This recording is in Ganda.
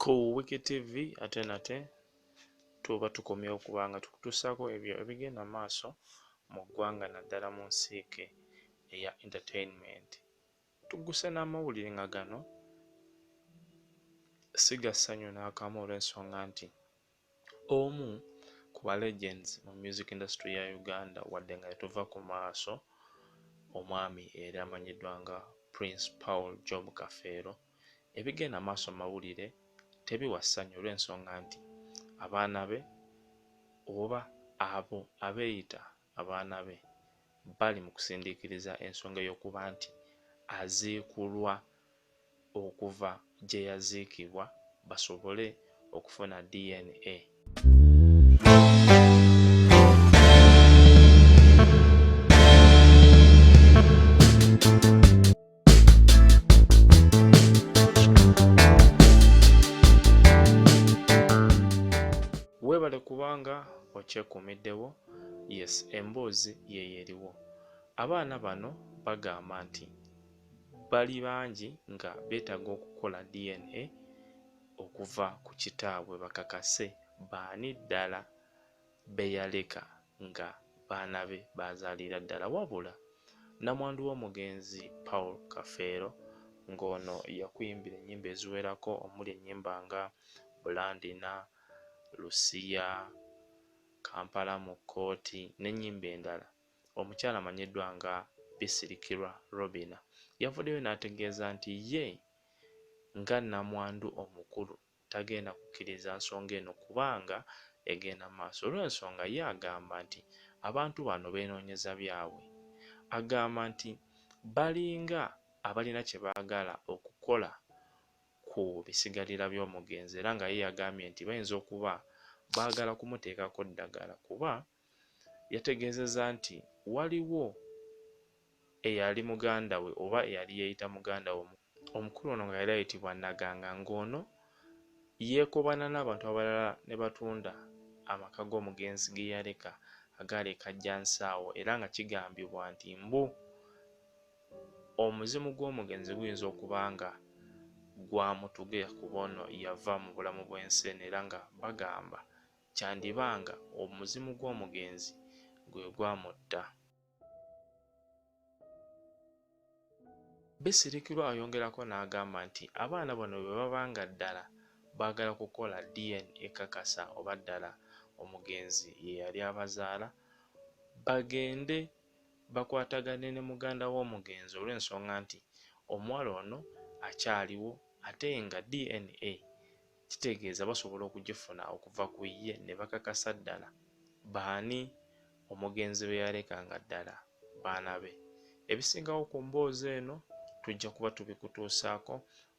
Ku Wiki TV ate nate tuba tukomyewo okuba nga tukutuusaako ebyo ebigenda mu maaso mu ggwanga naddala mu nsiike eya entertainment. Tugguse n'amawulire nga gano si ga ssanyu n'akamu olw'ensonga nti Omu ku ba legends mu music industry ya Uganda wadde nga tetuva ku maaso omwami eyali amanyiddwa nga Prince Paul Job Kafeero ebigenda maaso mu mawulire tebiwa ssanyu olw'ensonga nti abaana be oba abo abeeyita abaana be bali mu kusindiikiriza ensonga ey'okuba nti aziikulwa okuva gye yaziikibwa basobole okufuna DNA. Weebale kubanga okyekuumiddewo. Yes, emboozi yeyo eriwo. Abaana bano bagamba nti bali bangi nga beetaga okukola DNA okuva ku kitaabwe bakakase baani ddala beyaleka nga baana be baazaalira ddala wabula nnamwandu w'omugenzi Paul Kafeero ng'ono yakuyimbira ennyimba eziwerako omuli ennyimba nga Bulandina, Lusiya, Kampala mu kkooti n'ennyimba endala. Omukyala amanyiddwa nga Bisirikirwa Robinah yavuddeyo n'ategeeza nti ye nga nnamwandu omukulu tagenda kukkiriza nsonga eno kubanga egenda mu maaso olw'ensonga ye agamba nti abantu bano beenoonyeza byabwe. Agamba nti balinga abalina kye baagala okukola ku bisigalira by'omugenzi era nga ye yagambye nti bayinza okuba baagala kumuteekako ddagala kuba yategeezezza nti waliwo eyali muganda we oba eyali yeeyita muganda we omukulu ono nga yali ayitibwa Naganga ng'ono yeekobaana n'abantu abalala ne batunda amaka g'omugenzi ge yaleka agaali e Kajjansaawo era nga kigambibwa nti mbu Omuzimu gw'omugenzi guyinza okuba nga gwamutuge kuba ono yava mu bulamu bw'ensi eno era nga bagamba kyandiba nga omuzimu gw'omugenzi gwe gwamutta. Bisirikirwa ayongerako n'agamba nti abaana bano bwe baba nga ddala baagala kukola DNA ekakasa oba ddala omugenzi ye yali abazaala, bagende bakwatagane ne muganda w'omugenzi olw'ensonga nti omuwala ono akyaliwo ate nga DNA kitegeeza basobola okugifuna okuva ku ye ne bakakasa ddala baani omugenzi be yaleka nga ddala baana be. Ebisingawo ku mboozi eno tujja kuba tubikutuusaako